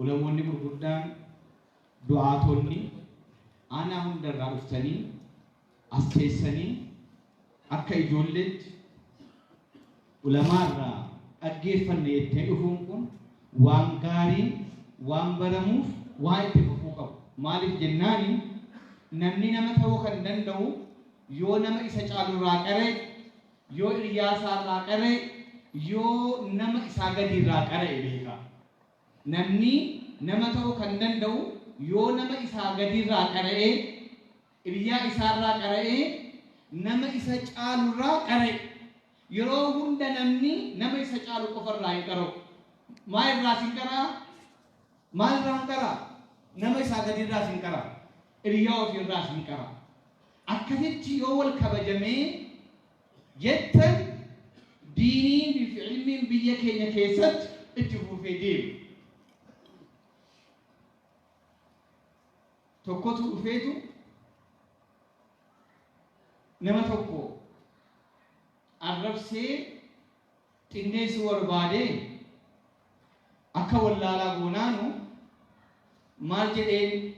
Ulamoonni gurguddaan, du'aatoonni aanaa hunda irraa dhuftanii as teessanii akka ijoolleetti ulamaa irraa dhaggeeffanne jettee dhufuun kun waan gaarii, waan baramuuf waan itti fufuu qabu. Maaliif jennaani namni nama ta'uu kan danda'u yoo nama isa caalu irraa qaraye, Yoo hiryaa isaa irraa qara'e, yoo nama isaa gadii irraa qara'e beeka. Namni nama ta'uu kan danda'u yoo nama isaa gadii irraa qara'e, hiryaa isaa irraa qara'e, nama isa caalu irraa qara'e. Yeroo hunda namni nama isa caalu qofa irraa hin qara'u. Maal irraas hin qara'a? Maal irraa hin qara'a? Nama isaa gadii irraas hin qara'a. Hiryaa ofii irraas hin qara'a. Akkasitti yoo wal kabajamee jettan diiniin fi ilmiin biyya keenya keessatti itti fufee deema. Tokkotu dhufeetu nama tokko arrabsee qindeessuu barbaadee akka wallaalaa goonaanu maal jedheen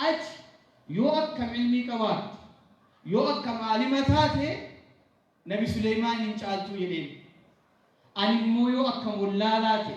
ati yoo akkam ilmii qabaatte yoo akkam aalima taate nabi suleymaan hin caaltuu jedheen animmoo yoo akkam wallaalaa ta'e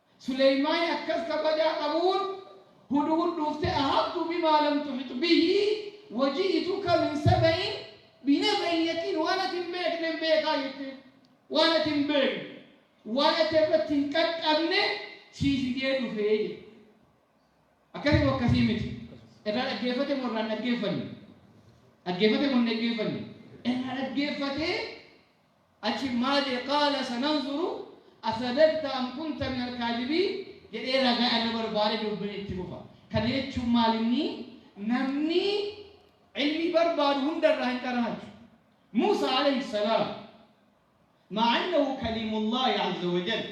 Suleymaani akkas kabajaa qabuun, Hudhud dhuufte ahattu bimaa lam tuhit bihi wa ji'ituka min saba'in binaba'in yaqiin waan ati hin beeknen beekaa jetteen. Waan ati hin beekne, waan ati irratti hin qaqqabne sii fidee dhufe jedhe. Akkasi moo akkasii miti? Irraa dhaggeeffate moo irraa hin dhaggeeffanne? Dhaggeeffate moo hin dhaggeeffanne? Irraa dhaggeeffatee Achiin maali'i qaala sananzuru asadaqta am kunta minal kaadibiin jedhee ragaa irra barbaade dubbiin itti fufa. Kana jechuun maal inni namni ilmii barbaadu hunda irraa hin qaraachu. Muusaa alayhi salaam ma'a annahu kaliimullaahi azza wa jalla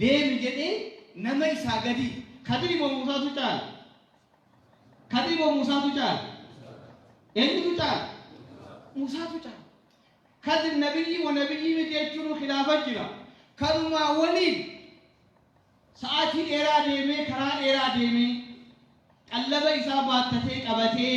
deemi jedhee nama isaa gadi kadiri moo muusaatu caala kadiri moo muusaatu caala eenyutu caala muusaatu caala kadir nabiyyii wa nabiyyii miti jechuun khilaafa jira kanumaa waliin sa'aatii dheeraa deemee karaa dheeraa deemee qallaba isaa baattatee qabatee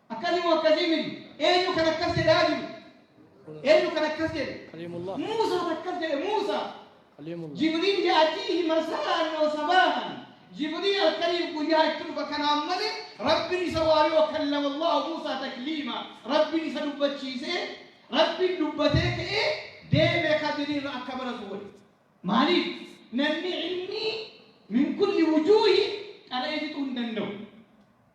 Akkasii moo akkasii miti? Eenyu kan akkas jedhaa jiru? Eenyu kan akkas jedhe? Kaliimullah. Muusaa akkas jedhe Muusaa. Kaliimullah. Jibriil yaatiihi marsaraan yoo sabaahan. Jibriil halkaniif guyyaa itti dhufa kanaan malee Rabbiin isa waayoo kallama Allahu Muusaa takliima. Rabbiin isa dubbachiisee Rabbiin dubbatee ka'ee deemee kadiriirra akka baratu godhe. Maaliif? Namni ilmii min kulli wujuuhi qara'ee fixuu hin danda'u.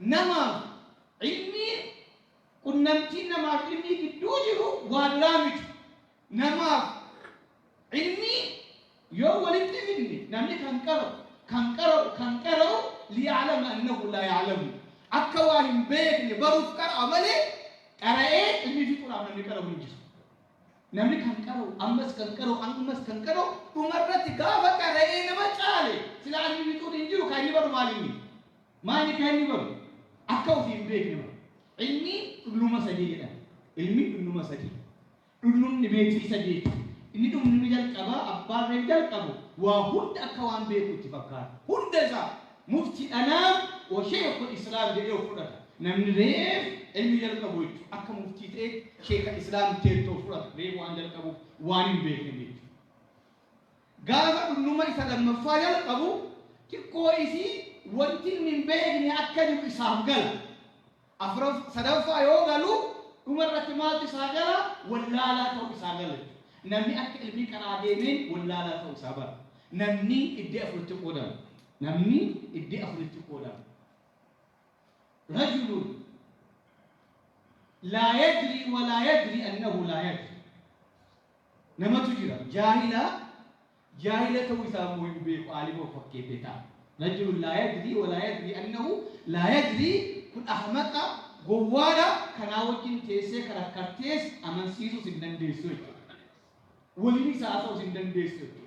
Namaaf, ilmiin, qunnamtiin namaaf ilmii gidduu jiru waa biraa miti. Namaaf, ilmii, yoo walitti fidne namni kan qara'u, kan qara'u, kan qara'u liya'lama annahu laa ya'lamu. Akka waa hin beekne baruuf qara'a malee qara'ee ilmii fixuudhaaf namni qara'u hin jiru. Namni kan qara'u, ammas kan qara'u, ammas kan qara'u dhumarratti gaafa qara'ee nama caale silaa ilmi fixuun hin jiru kan inni baru maalinni? Maali ka inni godhu? Akka ufi hin beekne bar. Ilmi dhulluma sadii jedhan. Ilmi dhulluma sadii. Dhullumni meetirii sadeeti. Inni dhullumi jalqabaa abbaan reef jalqabu waa hunda akka waan beeku itti fakkaata. Hunda isaa mufti dhanaa wa sheekhul islaam jedhee of fudhata. Namni reef ilmi jalqabu jechu akka muftii ta'eet sheekha islaam teettu of fudhata. Reef waan jalqabuuf waan hin beekne jechu. Gaafa dulluma isa lammaffaa jalqabu xiqqoo isii wanti inni hin beekne akka jiru isaaf gala. Afraf, sadaffaa yoo galu dhuma irratti maaltu isaa gala? Wallaalaa ta'u isaa gala jechuudha. Namni akka ilmii karaa deemeen wallaalaa ta'u isaa bara. Namni iddee afuritti qoodama. Namni iddee afuritti qoodama. Rajulun laa yadrii walaa yadrii annahu laa yadrii. namatu jira jaahila jaahila ta'uu isaa immoo hin beeku aalima of fakkeessee ta'a rajulun laa yadrii walaa yadrii annahu laa yadrii kun ahmaqa gowwaadha kanaa wajjin teessee karakkartees amansiisuus hin dandeessu jechuudha waliin isaa haasa'uus hin dandeessu jechuudha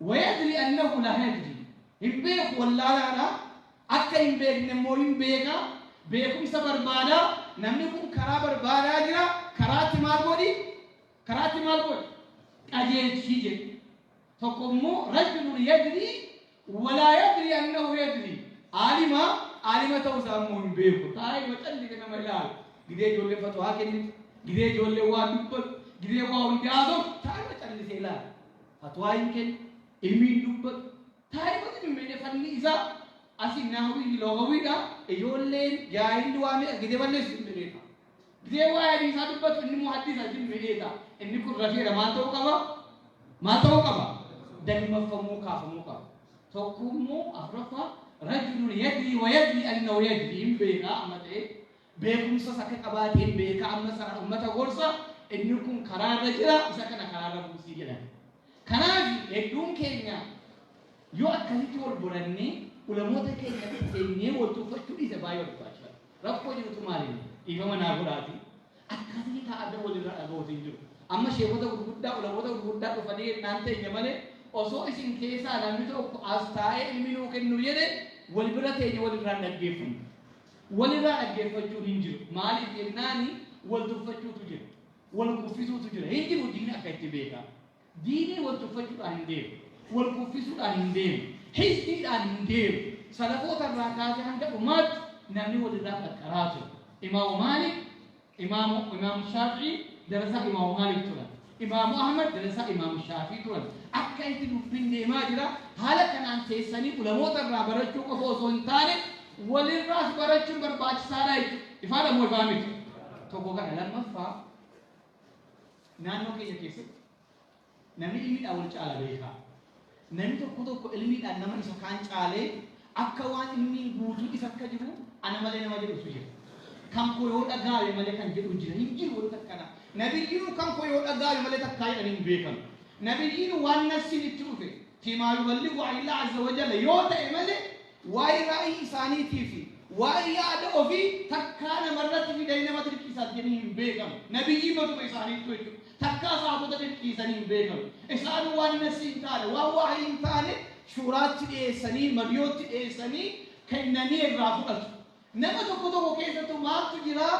Wayadri annahu laa yadri, hin beeku wallaalaadha, akka hin beekne immoo hin beeka, beekumsa barbaada, namni kun karaa barbaadaa jira, karaatti maal godhi? Karaatti maal godhi? Qajeelchi jedhe. Tokko immoo rajulun yadri walaa yadri annahu yadri, aalima, aalima ta'uu isaa immoo hin beeku, taa'ee macallise nama ilaala, gidee ijoollee fatwaa kennitu, gidee ijoollee waa dubbatu, gidee waa hundaasuuf taa'ee macallise ilaala. Fatwaa hin kennu, ilmi hin dubbatu. Taarikoti dummeyne falli isaa asi nahwii fi loghawii dha. Ijoolleen jaahilli waa meeqa gidee balleessu hin beekaa. Gidee waa'ee hadiisaa dubbatu inni muhaddisa hin beekaa. Inni kun rafeera maal ta'uu qaba? Maal ta'uu qaba? Dagmaffamuu kaafamuu qaba. Tokko immoo afraffaa rajulun yadrii wa yadrii annahu yadrii hin beekaa amma ta'e. beekumsas akka qabaateen beeka amma sana ummata gorsa inni kun karaarra jira isa kana karaarra buusii jedhan kanaaf hedduun keenya yoo akkasitti wal borannee ulamoota keenya seennee wal tuffachuu dhiise baay'ee wal tuffachuu rakkoo jirutu maaliin dhiifama naa godhaati akkasii taa'adda walirra dhaga'uutu hin jiru amma sheekota gurguddaa ulamoota gurguddaa dhufanii naan teenya malee osoo isin keessaa namni tokko as taa'ee ilmi nuu kennu jedhe wal bira teenya walirraan dhaggeeffanna Walirraa dhaggeeffachuun hin jiru. Maaliif jennaan wal tuffachuutu jira. Wal kuffisuutu jira. Hin jiru diinni akka itti beekaa. Diinii wal tuffachuudhaan hin deemu. Wal kuffisuudhaan hin deemu. Hizbiidhaan hin deemu. Salafoota irraa kaasee hanga dhumaatti namni walirraa qaqqaraa ture. Imaamu Maalik Imaamu Imaamu Shaafi'ii darasaa Imaamu Maalik turan. Imaamu Ahmad darasaa Imaamu Shaafii turan. Akka itti dubbiin deemaa jira. Haala kanaan teessanii ulamoota irraa barachuu qofa osoo hin taane walirraas barachuun barbaachisaadha jechuudha. Ifaadha moo ifaa miti? Tokko kana lammaffaa naannoo keenya keessatti Nami ilmiidhaan wol caala beekha. Nami tokko tokko ilmiidhaan nama isa kaan caalee, akka waan ilmiin guutuu isa akka jiru ana malee nama jedhutu jira. Kan koo yoo dhagaawe malee kan jedhu jira. Hin jiru wanti akkana. Nabiyyiinu kan koo yoo dhagaawe malee takkaa jedhan hin beekan. Nabiyyiinu waan nafsiin itti dhufe, fiimaa yuballigu anillaa azza wajalla yoo ta'e malee, Waa'ee raayii isaaniitii fi waa'ee yaada ofii takkaa namarratti fidanii nama dirqiisatanii hin beekan. Nabiyyii matuma isaaniittu jechuudha. Takkaa saabota dirqiisanii hin beekan. Isaan waan nasii hin taane, waan waa'ii hin taane shuuraatti dhiyeessanii, mariyootti dhiyeessanii kennanii irraa fudhatu. Nama tokko tokko keessattu maaltu jiraa?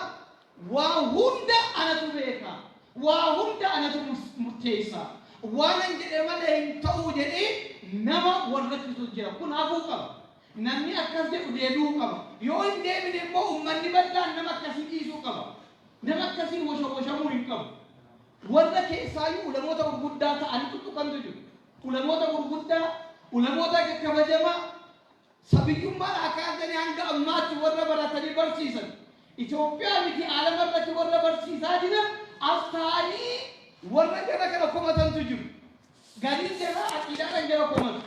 Waa hunda anatu beeka, waa hunda anatu murteessa, waanan jedhe malee hin ta'u jedhee nama wal rakkisutu jira. Kun hafuu qaba. Namni akkas jedhu deebi'uu qaba. Yoo hin deebine immoo ummanni bal'aan nama akkasii dhiisuu qaba. Nama akkasiin washawashamuu hin qabu. Warra keessaayyuu ulamoota gurguddaa ta'anii tuttuqantu jiru. Ulamoota gurguddaa, ulamoota kabajamaa Sabiyyummaan akaadamii hanga ammaatti warra baratanii barsiisan Itoophiyaa miti aalama irratti warra barsiisaa jiran as taa'anii warra jara kana komatantu jiru. Gariin jara aqiidaadhaan jara komatu.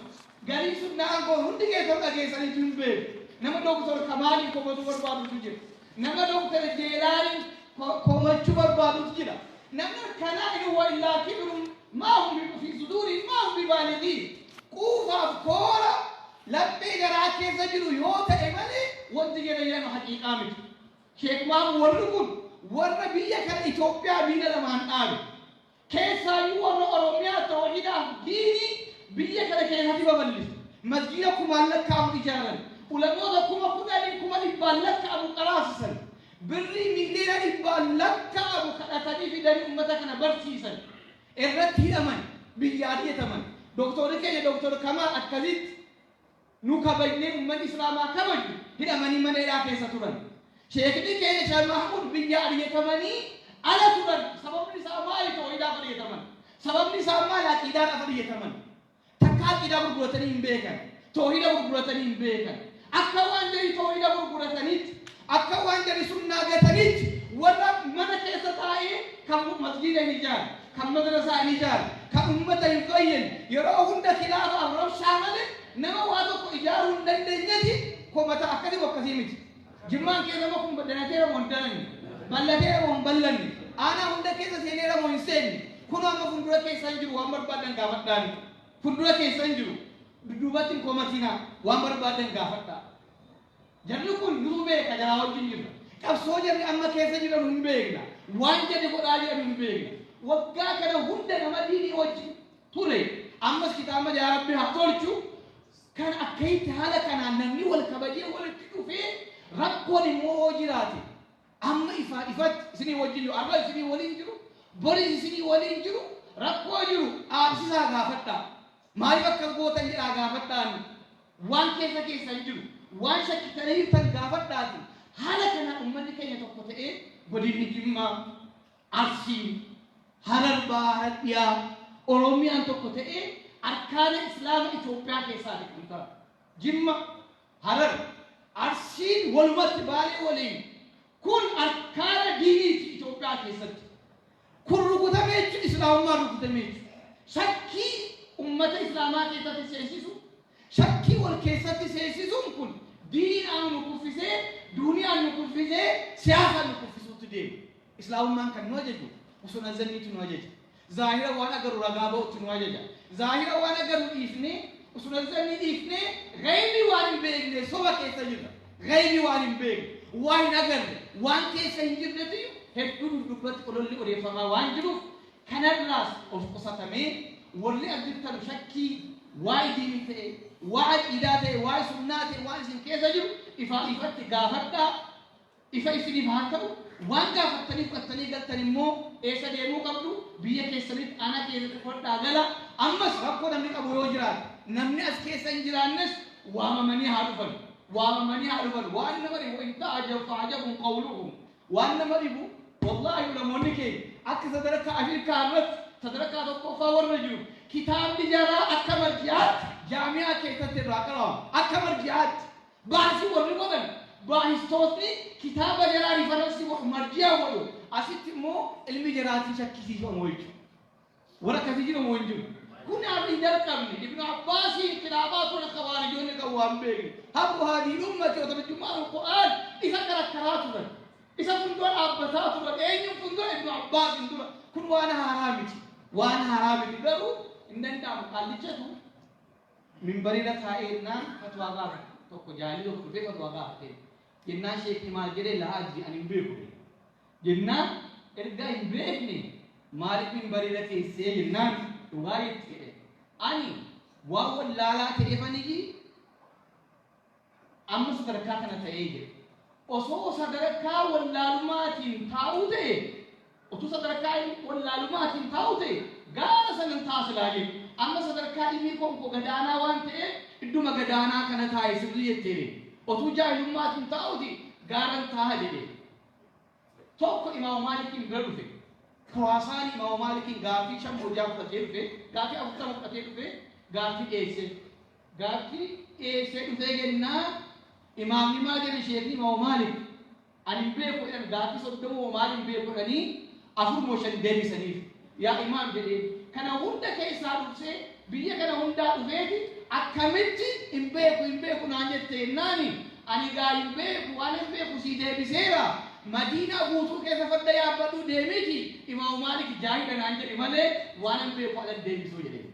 Gariin sunnaa aangoon hundi keessan dhageessaniitu hin beeku. Nama Dooktor Kamaaliin komatuu barbaadutu jira. Nama Dr. Jeelaaniin komachuu barbaadutu jira. Namni akkanaa in huwa illaa kibrun maa hum biqufii suduuriin maa hum bibaaligiin. Quufaaf koora laphee garaa keessa jiru yoo ta'e malee wanti jedhan jedhama haqiiqaa miti. Sheek Maamu warri kun warra biyya kana Itoophiyaa miila lamaan dhaabe. Keessaayyuu warra Oromiyaa tawhiidaaf diinii biyya kana keessatti babal'ise. Masjiida kumaan lakkaa'amu ijaaran. Ulamoota kuma kudhanii kuma dhibbaan lakkaa'amu qaraasisan. Birrii miiliyoona dhibbaan lakkaa'amu kadhatanii fidanii ummata kana barsiisan. Irratti hidhaman, biyyaa ari'ataman. Doktoorri keenya Doktor Kamaal akkasitti. nu kabajnee ummanni islaamaa kabaju hidhamanii mana hidhaa keessa turan. Sheekni keenya Sheeh Mahmuud biyyaa ariyatamanii ala turan sababni isaa maali toohidaaf ariyataman? Sababni isaa maali aqiidaadhaaf ariyataman? Takka aqiidaa gurguratanii hin beekan. Toohida gurguratanii hin beekan. Akka waan jarii toohida gurgurataniitti Akka waan jari sunnaa gataniitti warra mana keessa taa'ee kan masjiida hin ijaarre, kan madrasaa hin ijaarre, kan ummata hin fayyine, yeroo hunda khilaafaaf rabshaa malee nama waa tokko ijaaruu hin dandeenyeti komata akkasi moo akkasii miti. Jimmaan keessa immoo kun danateera moo hin dananne, ballateera moo hin ballanne, aanaa hunda keessa seeneera moo hin seenne kunoo amma fuuldura keessan jiru waan barbaadan gaafadhaani. Fuuldura keessan jiru dudduubatti hin komatinaa waan barbaadan gaafadhaa. Jarri kun nuu beeka jaraa wajjin jirra. Qabsoo jarri amma keessa jiran hin beekna. Waan jarri godhaa jiran hin beekna. Waggaa kana hunda nama diinii wajjin ture. Ammas kitaaba yaa rabbi haa tolchu. Kan akkaitti haala kanaan namni wal kabajee walitti dhufee rakkoon immoo hoo jiraate. Amma ifaa ifatti isinii wajjin jiru. Arra isinii waliin jiru. Boris isinii waliin jiru. Rakkoo jiru dhaabsisaa gaafadhaa. Maaliif akka gootan jedhaa gaafadhaani. Waan keessa keessan jiru, waan shakkitanii jirtan gaafadhaati. Haala kanaan ummanni keenya tokko ta'ee godinni Jimmaa, Arsii, Harar Bahaa, Harar Dhiyaa, Oromiyaan tokko ta'ee arkaana Islaama Itoophiyaa keessaa beekamta. Jimma, Harar, Arsiin walumatti Baalee waliin kun arkaana diiniiti Itoophiyaa keessatti. Kun rukutamee jechuun Islaamummaan rukutamee jechuudha. Shakkii ummata Islaamaa keessatti seensisu, shakkii wal keessatti seensisuun kun diinaan nu kuffisee, duuniyaan nu kuffisee, siyaasaan nu kuffisuutti deema. Islaamummaan kan nu ajaju husna zanniitu nu ajaja. Zaahira waan agarru ragaa ba'utti nu ajaja. Zaahira waan agarru dhiifnee, husna zannii dhiifnee, ghaybni waan hin beekne soba keessa jirra. Ghaybi waan hin beekne, waa hin agarre, waan keessa hin jirretuyyu hedduu duddubbatti ololli odeeffamaa waan jiruuf kanarraas of qusatamee worri as jirtanu shakkii waay diinii ta'e, waa aqiidaa ta'e, waay sunnaa ta'e waan isin keessa jiru ifaa ifatti gaafadhaa ifa isiniif haa ta'u, waan gaafattanii fudhattanii galtan immoo eessa deemuu qabdu? Biyya keessanitti aanaa keessatti qubadhaa gala. Ammas rakkoo namni qabu yoo jiraate namni as keessa hin jiraannes waamamanii haa dhufan. waamamanii haa dhufan waan nama dhibu in ta'ajab fa'ajabun qawluhum waan nama dhibu wallaahi ulamoonni keenya akka sadarkaa Afrikaa irratti sadarkaa tokkoffaa warra jiru kitaabni jaraa akka marji'aatti jaamiyaa keessatti irraa qarama akka marji'aatti baasii warri godhan baahistootni kitaaba jaraa rifaransi godhu marji'aa godhu asitti immoo ilmi jaraatii shakkisiifamu jechuudha. Warra akkasii jira moo hin jiru? Kun har'a hin jalqabne. Ibnu Abbaasiin khilaafaa ture khawaarijoonni kan waan beekne. Habbu haadhiin ummati yoo tarjummaan Alqur'aan isa karakkaraa turan. Isa fundura dhaabbataa turan. Eenyuun fundura Ibnu Abbaasiin dura. Kun waan haaraa miti. Waan haaraa miti garuu hin danda'amu. Qaallichatu minbarira taa'ee jennaan fatwaa gaafa tokko jaalii tokko dhufee fatwaa gaafatee jennaan sheekni maal jedhee laa adri ani hin beeku. Jennaan erga hin beekne maaliif minbarirra teessee jennaan dhugaa jetti jedhe. Ani waan wallaalaa ta'efaniyyi amma sadarkaa kana ta'ee jedhe. Osoo sadarkaa wallaalumaatiin taa'uu ta'e utuu sadarkaa wallaalumaatiin taa'uu ta'e gaara sanan taasilaa jedhe. Amma sadarkaa ilmii konko gadaanaa waan ta'eef idduma gadaanaa kana taa'e sirrii jetteere. Otuu jaahilummaatiin taa'uti gaaran taa'a jedhe. Tokko Imaama Maalikiin bira dhufe. Kuraasaani Imaama Maalikiin gaaffii shan moo ja'a fudhatee dhufe. Gaaffii afurtama fudhatee dhufe. Gaaffii dhiyeessee. Gaaffii dhiyeessee dhufee jennaan Imaamni maal jedhan sheekni Imaama Maalik. Ani hin beeku jedhan gaaffii soddoma moo maal hin beeku jedhanii afur moo shan deebisaniif. Yaa Imaam jedheen. Kana hunda keessaa dursee biyya kana hundaa dhufeeti akkamitti hin beeku hin beeku naan jette jennaani ani gaa hin beeku waan hin beeku sii deebiseera madiinaa guutuu keessa farda yaabbadhuu deemiti imaamu maalik jaahidha naan jedhe malee waan hin beeku alan deebisuu jedheen.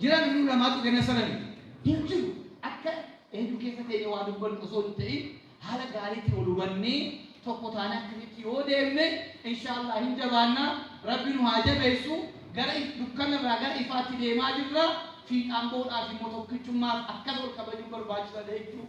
Jiran hunduu namaatu kenna sarani hin jiru. Akka eenyu keessa teenye waa dubbannu osoo hin ta'in haala gaariitti wal hubannee tokko taanee akkasitti yoo deemne inshaallah hin jabaanna rabbi nu haa jabeessu gara if- dukkana irraa gara ifaatti deemaa jirra fiixaan ba'uudhaaf immoo tokkichummaaf akkas wal kabajuun barbaachisaadha jechuudha.